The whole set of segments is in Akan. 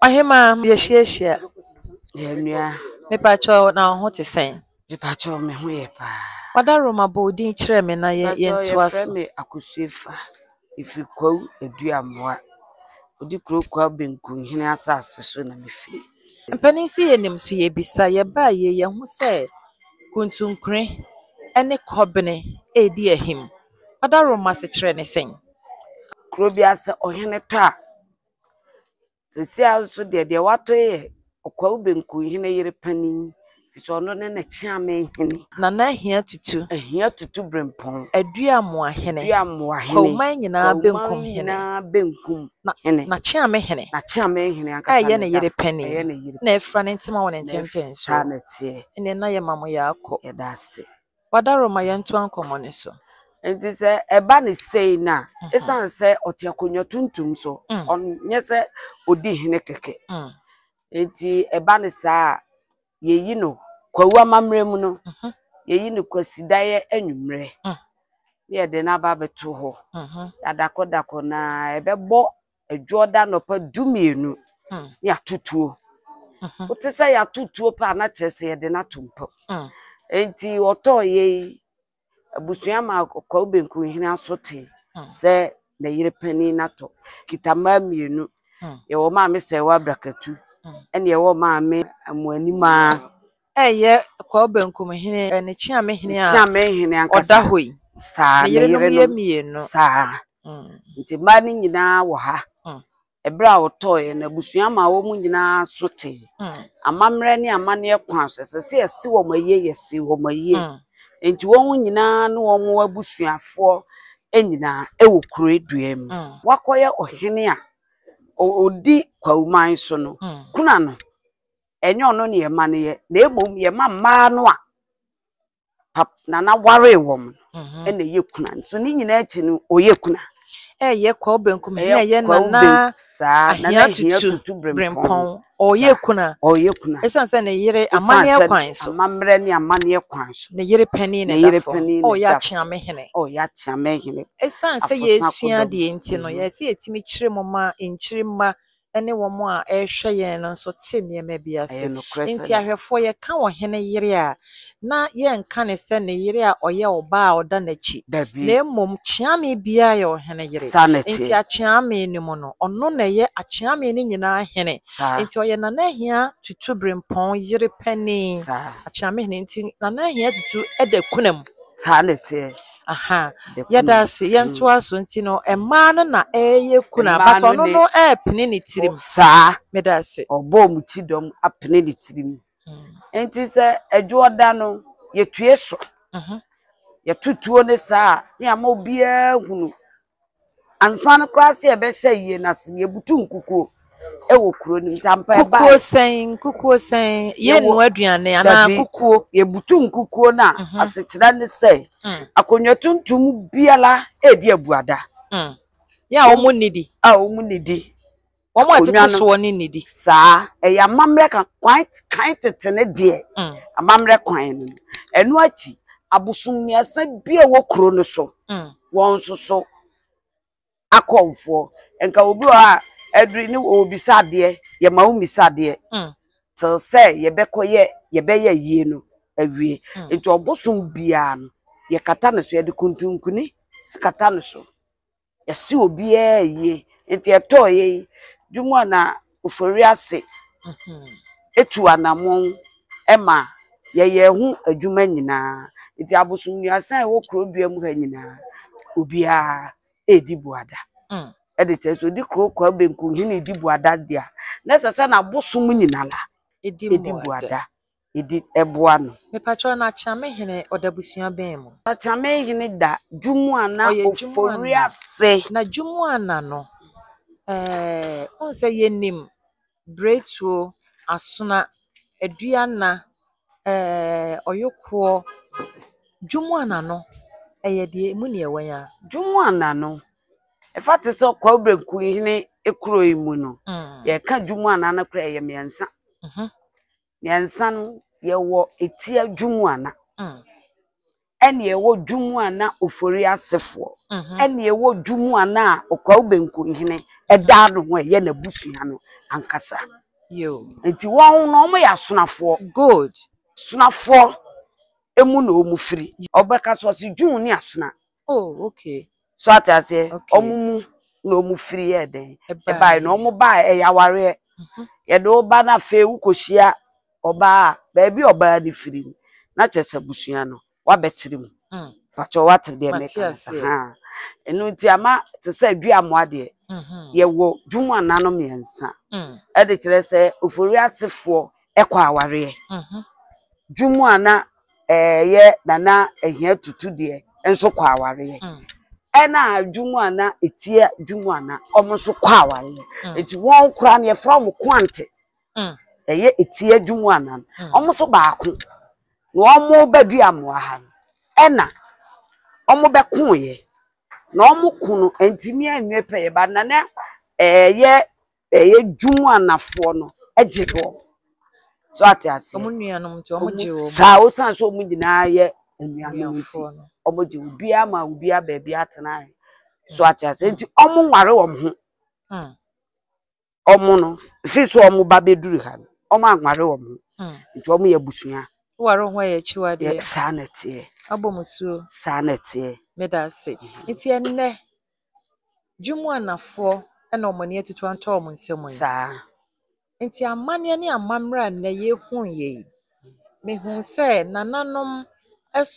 Ɔhemaa, yɛahyiahyia. Yɛn nua. Mepakyɛ wo, na wo ho te sɛn? Mepakyɛ wo, me ho yɛ paa. Wadaroma, bɔ wo din kyerɛ me na yɛntoa so. Mepakyɛ wo, yɛfrɛ me Akosuefa. Mefiri Kwawu Aduamoa. Odi kuro Kwawu Benkunhene asase so na mefiri. Mpanin se yɛnim so yɛbisa. Yɛbaa yei, yɛahu sɛ Kuntunkure ne Kɔbene redi ahim. Wadaroma asekyerɛ ne sɛn? Kuro biara sɛ ɔhene tɔ a, Sesei ara nso deɛ, deɛ watɔ yi yɛ Ɔkwaawu Benkuhene yere panin, ɛfiri sɛ ɔno ne N'akyeammenhene. Nana Ahia Tutu. Ahia Tutu Brempong. Aduamoahene. Aduamoahene. Kwawoman nyinaa benkum hene. Kwawoman nyinaa benkum hene. N'akyeammenhene. N'akyeammenhene ankasa na ɛda so. Ɛyɛ ne yere panin. Ɛyɛ ne yere panin. Na afira ne ntoma wɔ ne ntentensoɔ. Saa na ɛteɛ. Ɛnneɛ na yɛma mo yɛ akɔ. Yɛda ase. Wada Roma yɛntoa nkɔmmɔ no so. Nti sɛ ɛba no sei no a, ɛsiane sɛ ɔte akonnwa tuntum so, ɔnyɛ sɛ ɔdi hene kɛkɛ. Nti ɛba no saa a, yɛyi no Kwawu amammerɛ mu no, yɛyi no Kwasidaeɛ anwummerɛ, na yɛde no aba abɛto hɔ. Yɛadakɔdakɔ no ara, ɛbɛbɔ Adwo ɔda anɔpa du mmienu hmm. ne atotuo. Mhm. Wote sɛ yɛatotuo paa na kyerɛ sɛ yɛde no ato mpam. Hmm. Nti ɔtɔɔ yei abusua ma kwawu benku hene aso te hmm. sɛ na yere panin no atɔ kita mmaa mmienu. Yɛwɔ maame sɛ ɛwɔ abrakatu ɛne ɛwɔ maame amoanimaa. Ɛyɛ Kwawo Benkum hene ne Kyeame hene a Kyeame hene ankasa. ɔda hɔ yi. Saa, ne yerenom yerenom. yɛ mmienu. Saa. Mm. Nti mmaa no nyinaa wɔ ha. Mm. Ɛberɛ a ɔtɔeɛ no, abusua maa wɔn nyinaa so tee. Mm. Amammerɛ ne amanneɛ kwan so. Ɛsɛ sɛ yɛse wɔn ayie, yɛse wɔn ayie. Mm. Nti wɔn nyinaa ne wɔn abusuafoɔ nyinaa wɔ kure dua mu. Mm. Wakɔyɛ ɔhene a ɔ- ɔdi Kwawu man so no, Mm. kuna no. ɛnyɛ ɔno na yɛma no yɛ na mmom yɛma mmaa no a pap nana waree wɔn no mhm. ɛna ɛyɛ kuna nso ne nyinaa akyi no ɔyɛ kuna ɛyɛ kwaw benkum na ɛyɛ nana saa nana hia tutu brempɔn ɔyɛ kuna ɔyɛ kuna ɛsan sɛ ne yere amanneɛ kwan so amammerɛ ne amanneɛ kwan so ne yere panyin na ɛda fam ɔyɛ akyeame hene ɔyɛ akyeame hene ɛsan sɛ yɛsua deɛ nti no mhm. yɛsɛ yɛtumi kyerɛ mu ma nkyiri mma ne wɔn a ɛrehwɛ yɛn no nso te nneɛma bi ase. Enti ahwɛfoɔ, yɛka ɔhene yere a, na yɛnka no sɛ ne yere a ɔyɛ ɔbaa a ɔda n'akyi, na mmom Kyeame biara yɛ ɔhene yere. Enti Akyeame no mu no, ɔno na ɛyɛ Akyeame no nyinaa hene. Enti ɔyɛ Nana Ahia Tutu Berempɔn yere panin, Akyeame hene. Nti Nana Ahia Tutu da kuna mu. Ahaa The kunu yɛda ase mm. yɛntoa so nti no mmaa no na ɛyɛ kunu a Mmaa but no ɔno ne no ɛɛpene ne tirim ɔ- saa meda ase ɔbɔ ɔmo ti dɔm apene ne tirim Mm, nti sɛ adwoɔ da no yɛtue so mhm. yɛto tuo ne saa a ne ama obiara hunu Ansa no koraa sɛ yɛbɛhyɛ yie no ase no, yɛbutu nkukuo wɔ kuro no mu nti ampa ɛbaeɛ. Kukuo sɛn nkukuo sɛn yɛnnua aduane anaa kukuo. Yɛbutu nkukuo no a mhm. asekyerɛ ne sɛ mm. akonnwa tuntum biara ɛredi abuada. Mm. Yɛ a wɔn nnidi. A wɔn nnidi. wɔn a ɛtete soɔ ne nnidi saa ɛyɛ amammerɛ ka kwan kan tete ne deɛ mm. amammerɛ kwan no ɛno akyi abosom mmiɛnsa bi a ɛwɔ kuro no so mm. wɔn nso so akɔmfoɔ nka obi wɔ a aduri ne ɔbisa adeɛ yɛma wo mmisa adeɛ mm. te sɛ yɛbɛkɔ yɛ yɛbɛyɛ yie no awie nti ɔbosom biara no yɛkata no so yɛde kuntunkuni kata no so yɛse obiara yie nti ɛtɔɔ yɛ yi dwuma a na Ofori ase etu anamɔn ɛma yɛyɛ ɛho adwuma nyinaa nti abosom mmiɛnsa a ɛwɔ kuro dua mu ha nyinaa obiara edi buada ɛde kyerɛ sɛ odi kuro kwa benku hene edi buada deɛ na ɛsɛ sɛ na abosom nyinaa edi buada. yɛde boa no. Mepakyɛw na Kyame Hene ɔda abusua bɛn mu? Na Kyame Hene da Dwumuana Ofori ase. Na Dwumuana no eh, wohu sɛ yɛnim Biretuo, Asona, Aduana, eh, Ɔyokoɔ. Dwumuana no ɛyɛ deɛ ɛmu neɛ wɛn a. Dwumuana no, ɛfa te sɛ Kwawu Benku Hene kuro yi mu no, yɛka Dwumuana no koraa ɛyɛ mmiɛnsa. Mmiɛnsa no, yɛwɔ etia Dwumuana, ɛna yɛwɔ Dwumuana Ofori-Asefoɔ, ɛna yɛwɔ Dwumuana a Okwao Benkunhene da ne ho a ɛyɛ n'abusua no ankasa. Nti wɔn no wɔyɛ asonafoɔ. Good. Sonafoɔ mu na wɔfiri. Ɔbɛka so ɔse Dwumuni Asona Oh, okay. So ate aseɛ ɔmo mu na ɔmo firi yɛ dɛn ɛbaeɛ na ɔmo baeɛ ɛyɛ awareɛ mhm. yɛde ɔba no afei wokɔhyia ɔbaa a baabi ɔbaa no firi no na kyɛ sɛ abusua no wabɛkyere mu mm. patɔ wate deɛ meka no sa ha ɛno nti ama te sɛ adua mmoa deɛ mhm. yɛwɔ dwuma nano mmiɛnsa mm. ɛde kyerɛ sɛ ofori asefoɔ ɛkɔ awareɛ dwom a na ɛyɛ nana ahia tutu deɛ nso kɔ awareɛ mm. ɛna dwom a na ɛtia dwom a na wɔn nso kɔ awareɛ mm. nti wɔn kora no yɛfrɛ wɔn kwante mm. ɛyɛ ɛtia dwom a na wɔn nso baako na wɔn bɛdi amoa ha no ɛna wɔn bɛkoeɛ na wɔn ko no ntumi anwie pɛyɛ ba nana ɛyɛ Ɛyɛ dwom a nafoɔ no gye wɔ. So ate aseɛ? Wɔn nuanom nti wɔn gye wɔ. Saa osan so wɔn nyinaa yɛ nuanom nti wɔn gye wɔ. Biara ma obiara baabi atena. So ate aseɛ? Nti wɔn nware wɔn ho. Wɔn no si so wɔn ba bɛduru ha no wɔn anware wɔn ho. Nti wɔn yɛ abusua. Woware ho yɛ akyiwadeɛ. Saa na ɛteɛ. Abɔ musuo. Saa na ɛteɛ. Meda ase. Nti ɛnnɛ. Dwom Anafoɔ na wɔn ani atutu atɔ wɔn nsa mu yi. Saa. Nti amanneɛ ne amammerɛ a nnɛ yɛhuiɛ yi, mehu sɛ nananom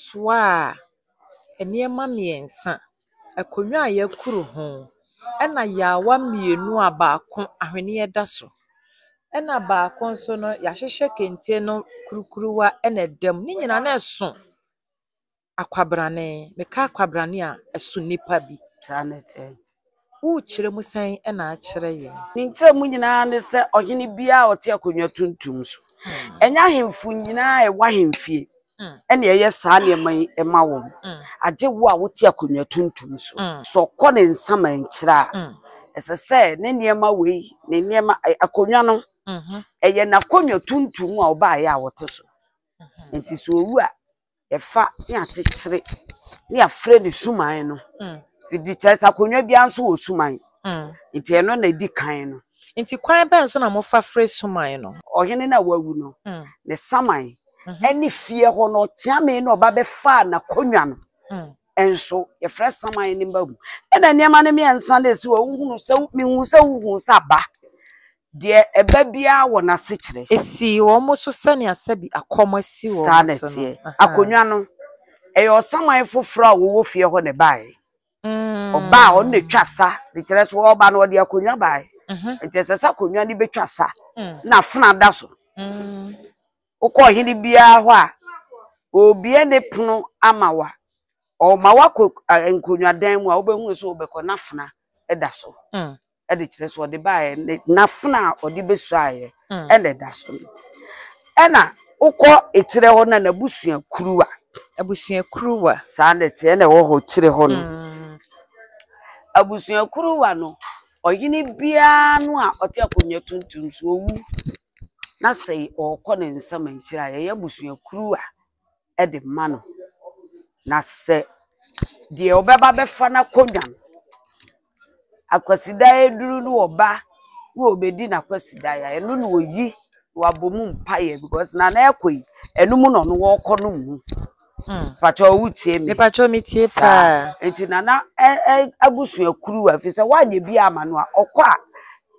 soaa nneɛma mmiɛnsa, akonnwa a yɛakuru ho, ɛna yaawa mmienu a baako ahweneɛ da so, ɛna baako nso no yɛahyehyɛ kente no kurukuruwa na ɛda mu. Ne nyinaa na ɛso. Akwabrane. Meka akwabrane a, ɛso nnipa bi. Saa ne sɛ. Wokyerɛ mu sɛn na akyerɛ yɛn? Ne nkyerɛmu nyinaa ne sɛ ɔhene biara a ɔte akonnwa tuntum so. Hmm. Ɛnyɛ ahemfo nyinaa a ɛwɔ ahemfie hmm. ɛne ɛyɛ saa nneɛma yi ɛma wɔn. Hmm. Agye wo a wote akonnwa tuntum so. Sɛ ɔkɔ ne nsama nkyerɛ a, ɛsɛ sɛ ne nneɛma wei ne nneɛma akonnwa no mhm. ɛyɛ n'akonnwa tuntum a ɔbaeɛ a wɔte so. Mhm. Nti sɛ owu a yɛfa ne akyekyere ne yɛafrɛ no suman no. Mm. Fidi kyerɛ sɛ akonnwa biara nso wɔ suman. Mm. Nti ɛno na ɛdi kan no. Nti kwan bɛn so na mofa frɛ suman no? Ɔhene no a wawu no, mm. ne saman mm-hmm. ɛne fie hɔ no ɔkyeame na ɔba bɛfaa n'akonnwa no. Mm. Ɛnso yɛfrɛ saman ne mba mu. Ɛna nneɛma no mmiɛnsa na ɛsi wɔ wohunu sɛ mehu sɛ wohu sɛ aba. Deɛ ɛba biara wɔ n'asekyerɛ. Esii wɔn so sɛnea sɛbi akɔm asi wɔn so no. Saa na ɛteɛ. Akonnwa no, ɛyɛ ɔsaman foforɔ a wɔwɔ fie hɔ na ɛbaeɛ. Ɔbaa a, ɔno na ɛtwa sa, de kyerɛ sɛ ɔreba no, ɔde akonnwa baeɛ. Nti ɛsɛ sɛ akonnwa no bɛtwa sa na afena da so. Wokɔ ɔhene biara hɔ a, ɔrebue ne pono ama wo a, ɔma woakɔ nkonnwadan mu a, wobɛhunu sɛ wobɛkɔ na afena da so. ɛde kyerɛ sɛ ɔde baeɛ ne n'afena a ɔde bɛsuaeɛ mm. ɛna ɛda so no ɛna wokɔ ekyirɛ hɔ na n'abusua kuruwa abusua kuruwa saa na ɛteɛ na ɛwɔ hɔ kyirɛ hɔ no mm. abusua kuruwa no ɔhene biara no a ɔte akonnwa tuntum so owu na sɛ ɔkɔ ne nsam nkyerɛ a yɛyɛ abusua kuruwa de ma no, na sɛ deɛ ɔbɛba bɛfa n'akonnwa no, Akwasidaeɛ aduru na ɔba na ɔbɛdi n'akwasidaeɛ a, ɛno na ɔyi na wabɔ mu mpaeɛ because na na ɛrekɔ yi, ɛno mu na ɔno ɔrekɔ no mu. Mpakyɛw wotie me. Mepatwɛ metie Saa. paa. Nti nana ɛ- ɛ- abusuakuruw a ɛfiri sɛ woanyɛ bi ama no a ɔkɔ a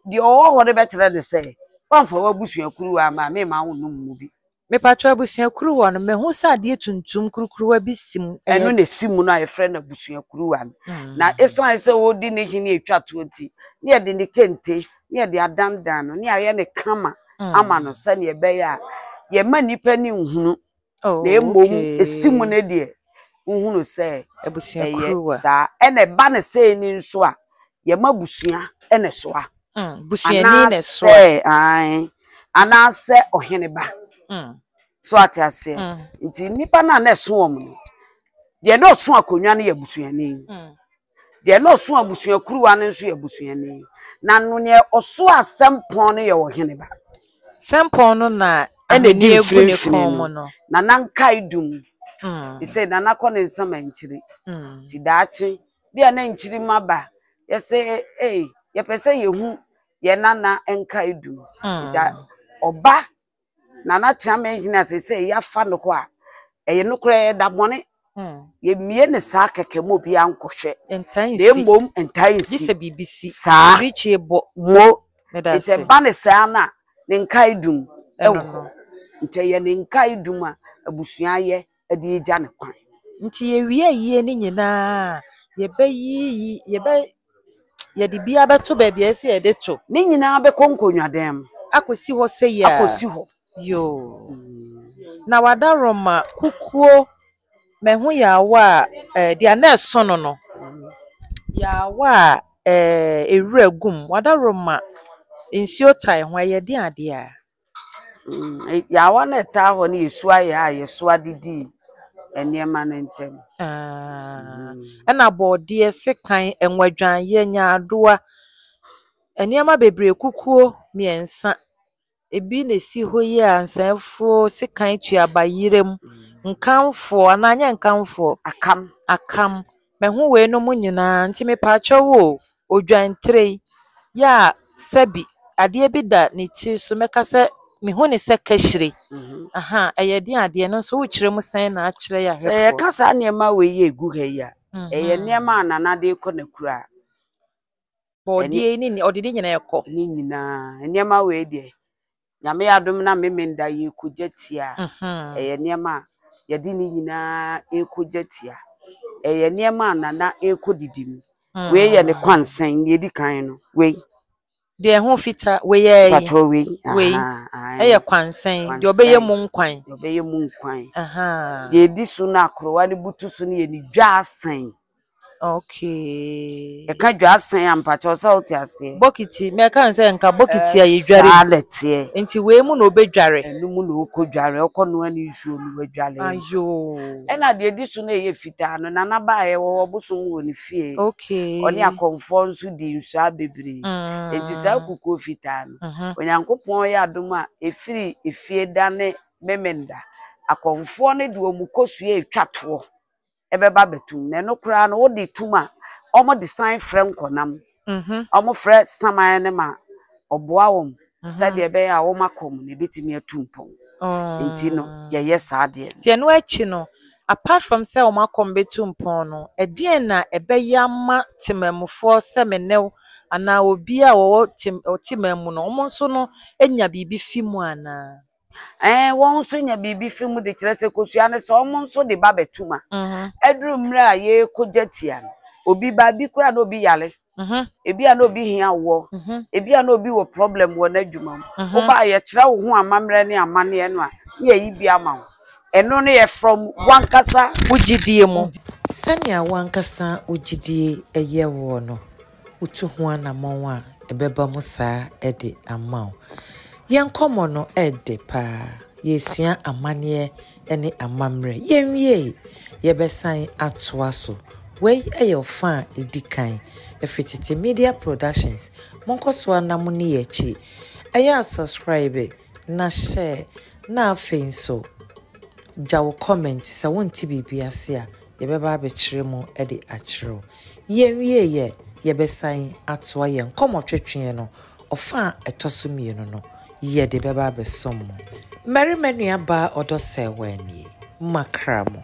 deɛ ɔwɔ hɔ no bɛkyerɛ ne sɛ woamfa w'abusuakuruw amma a mema wo nom mu bi. Mepakyɛw abusua kuruwa no mahu sɛ adeɛ tuntum kurukuruwa bi si mu ɛyɛ. Ɛno na ɛsi mu no a yɛfrɛ no abusua kuruwa no na ɛsiane sɛ ɔredi ne hene ɛtwa toɔ nti ne yɛde ne kente ne yɛde adandan no ne yɛayɛ no kama ama no sɛdeɛ ɛbɛyɛ a yɛmma nnipa ani nhunu na mmom ɛsi mu no deɛ wohunu sɛ ɛyɛ saa ɛna ɛba no sɛ ni nso a yɛma busua ɛna ɛsoa anaasɛ ae anaasɛ ɔhene ba mm. so ate aseɛ mm. nti nnipa no a na ɛso wɔn no deɛ na ɔso akonnwa no yɛ busuani mm. Deɛ na ɔso abusua kuruwa no nso yɛ busuani, na no deɛ ɔso asɛmpɔn no yɛ ɔhene ba. Sɛmpɔn no na ahoni egu ne kɔn mu no. Nana nkae dum. He said Nana kɔ ne nsa ma nkyiri. Ti daakye bi a na nkyiri ma ba. Yɛ sɛ ee yɛpɛ sɛ yɛhu yɛ Nana nkae dum. Ɔba Nana Kyerɛma Engineer a seesei yɛafa no hɔ a, ɛyɛ nokorɛ ɛda bɔne. Hmm. Yɛmmie no saa kɛkɛ ma obiara nkɔhwɛ. Ntaa nsi. Na mmom ntaa nsi. Gye sɛ biribi si. Saa. Birikyie bɔ. Mo. Meda ase. Nti ɛba ne saa no a, ne nkae dum. Ɛwɔ hɔ. Nti ɛyɛ ne nkae dum a abusua yɛ. de regya no kwan. Nti yɛwie ayie no nyinaa a, yɛbɛyiyi, yɛbɛ, yɛde biara bɛto baabi a ɛsɛ yɛde to. Ne nyinaa bɛkɔ nkonnwadan mu. Akɔsi hɔ sɛ yɛ a. Akɔsi hɔ. Yoo. Na wadaroma, kukuo, mɛho yaawa a ɛɛ deɛ na ɛso no no, yaawa a ɛɛ ewura gu mu, wadaroma, nsuo tae ho, ɛyɛ den adeɛ a. Mm, eh, yaawa no a ɛtaa hɔ no yɛ su ayɛ a yɛsoa de dii nneɛma no ntam. Ah, ɛna bɔɔdeɛ, sekan, ɛnwadwanyɛ, nyaadoa, nneɛma bebree kukuo mmiɛnsa. Ebi na esi hɔ yi a nsɛmfoɔ sekan tuaba yerɛm, nkanfoɔ anaa nyɛ nkanfoɔ, Akam. akam. Mahu weinom nyinaa nti mepaakyɛw o, odwan tire yi yɛ a sɛbi adeɛ bi da ne tiri so mɛka sɛ mehu ne sɛ kahyire. Aha, ɛyɛ den adeɛ no nso wokyerɛ mu sɛn na akyerɛ yɛ ahwɛfoɔ. Sɛ yɛka saa nneɛma wei yɛ egu ha yi a, ɛyɛ nneɛma a Nana de kɔ n'akura. Bɔɔdeɛ ne ɔde ne nyinaa kɔ. Ne nyinaa nneɛma wei deɛ Nyame adom na Memenda yɛrekɔgya tia a, ɛyɛ nneɛma a yɛde ne nyinaa rekɔgya tia. Ɛyɛ nneɛma a Nana rekɔdidi mu. Wei yɛ ne kwansɛn, deɛ ɛdi kan no, wei. Deɛ ɛho fita, wei yɛ ɛyi. Patrɔ wei. Wei yɛ kwansɛn, deɛ ɔbɛyɛ mu nkwan. Deɛ ɔbɛyɛ mu nkwan. Deɛ ɛdi so no a korowa no butu so no yɛ ne dwaasɛn. Okay. Ɛka dwa asan a mpakyɛw sɛ wote aseɛ. Bokiti, na ɛka sɛ nka bokiti a yɛdware. Saa na ɛteɛ. Nti wei mu na wobɛdware. Ɛno mu na wokɔ dware, wokɔ noa ne nsuo no wadware. Ayoo. Ɛna deɛ ɛdi so na ɛyɛ fitaa no, Nana baeɛ wɔ ɔbosom wɔ ne fie. Okay. Ɔne akɔmfoɔ nso dii nsɔa bebree. Mm. Nti saa kukuo fitaa no, Mhm. Onyankopɔn yɛ adom a ɛfiri efie da ne Memenda. Akɔmfoɔ no de wɔn kɔsuae twa toɔ. ɛbɛba abɛtom na ɛno koraa no wode tom a wɔde san frɛ nkɔnam wɔfrɛ saman no ma ɔboa wɔn sɛdeɛ ɛbɛyɛ a wɔn akɔ mu no ɛbɛtumi atu mpɔn nti no yɛyɛ saa adeɛ no. Nti ɛno akyi no apart from sɛ wɔn akɔ mu bɛtu mpɔn no ɛdeɛn na ɛbɛyɛ ama temanmufoɔ sɛ me ne wo anaa obiara a ɔwɔ te ɔteman mu no wɔn nso no nya biribi fi mu anaa? Ɛɛ, wɔn nso nya biribi fi mu de kyerɛ sɛ kosua no sɛ wɔn nso de ba bɛto mu a, ɛduru mmerɛ a yɛrekɔgya tia no, obi ba, ebi koraa na obi yare, ebi a na obi hia awoɔ, ebi a na obi wɔ problem wɔ n'adwuma mu. Woba a, yɛkyerɛ wo ho amammerɛ ne amanneɛ no a, na yɛyi bi ama wo. Ɛno no yɛ from w'ankasa wo gyedie mu. Sɛnea w'ankasa wo gyedie yɛ woɔ no. Wotu ho anammɔn a, ɛbɛba mu saa de ama wo. Yɛn nkɔmmɔ no ɛɛdɛ paa. Yɛresua amanneɛ ne amammerɛ. Yɛnwiei, yɛbɛsan atoa so. Wei yɛ ɔfa a ɛdi kan. Ɛfiri Tete Media Productions. Monkɔ so ara na monni yɛn akyi. Ɛyɛ a subscribe. Na hyɛ na afei nso gya wo comment sɛ wonte biribi ase a yɛbɛba abɛkyerɛ mu de akyerɛ wo. Yɛnwie yɛ yɛbɛsan atoa yɛn nkɔmmɔtwetweɛ no ɔfa a ɛtɔ so mmienu no yɛde bɛba abɛsom mo. Mmarima nua baa ɔdɔ sɛɛ waa nie. Makra mo.